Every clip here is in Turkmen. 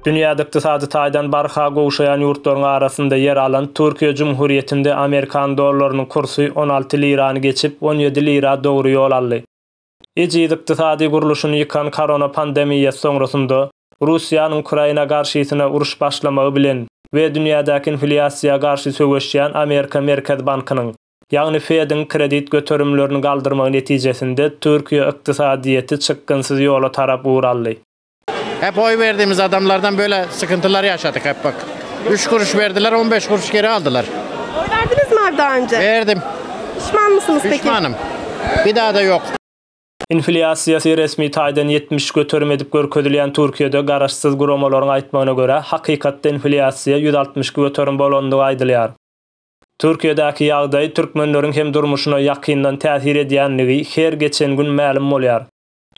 Dünýäde ykdysady taýdan barha gowşaýan ýurtlaryň arasynda ýer alan Türkiýe Jumhurýetinde amerikan dollarynyň kursy on alty lirany geçip, on ýedi lira dogry ýol aldy. Ejiz ykdysady gurluşyny ýykan korona pandemiýasy soňrasynda, Russiýanyň Ukraina garşysyna uruş başlamagy bilen we dünýädäki inflýasiýa garşy söweşýän Amerika Merkez bankynyň, Ýagny Fed-iň kredit göterimlerini galdyrmagy netijesinde Türkiýe ykdysadyýeti çykgynsyz ýola tarap ugur aldy. Hep oý berdimiz adamlardan böle sykyntylar ýaşadyk hep bak. Üç guruş berdiler on beş guruş geri aldylar. Oý berdinizmi abi da önje? Berdim. Pişmanmysynyz peki? Pişmanym. Bir dada ýok. Inflýasiýasy resmi taýdan ýetmiş göterim edip görkezilýän Türkiýede garaşsyz guramalaryň aýtmagyna görä, hakykatda inflýasiýa ýüz altmyş iki göterim bolandygy aýdylýar. Türkiýedäki ýagdaý türkmenleriň hem durmuşyna ýakyndan täsir edýändigi her geçen gün mälim bolýar.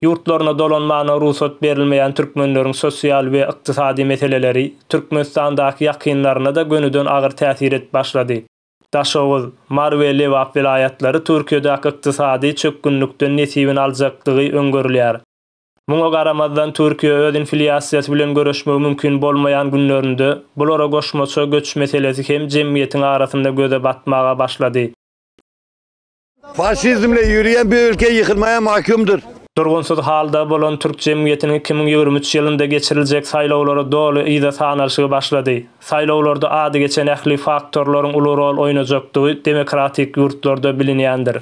Ýurtlaryna dolanmagyna rugsat berilmeýän türkmenleriň sosial we ykdysady meseleleri Türkmenistandaky ýakynlaryna-da gönüden agyr täsir edip başlady. Daşoguz, Mary we Lebap welaýatlary Türkiýedäki ykdysady çökgünlikden nesibini aljakdygy öňgerilýär. Muňa garamazdan, Türkiýe öz inflýasiýasy bilen göreşmegi mümkin bolmaýan günlerinde, bulara goşmaça göç meselesi hem jemgyýetiň arasynda göze batmaga başlady. Faşizmle ýöreýän bir ülke ýykylmaýa mahkumdyr. Durgunsyz halda bolan türk jemgyýetiniň iki müň ýigrimi üç ýylynda geçiriljek saýlawlary doly yza sanalşygy başlady. Saýlawlarda ady geçen ähli faktorlaryň uly rol oýnajakdygy demokratik ýurtlarda bilinýändir.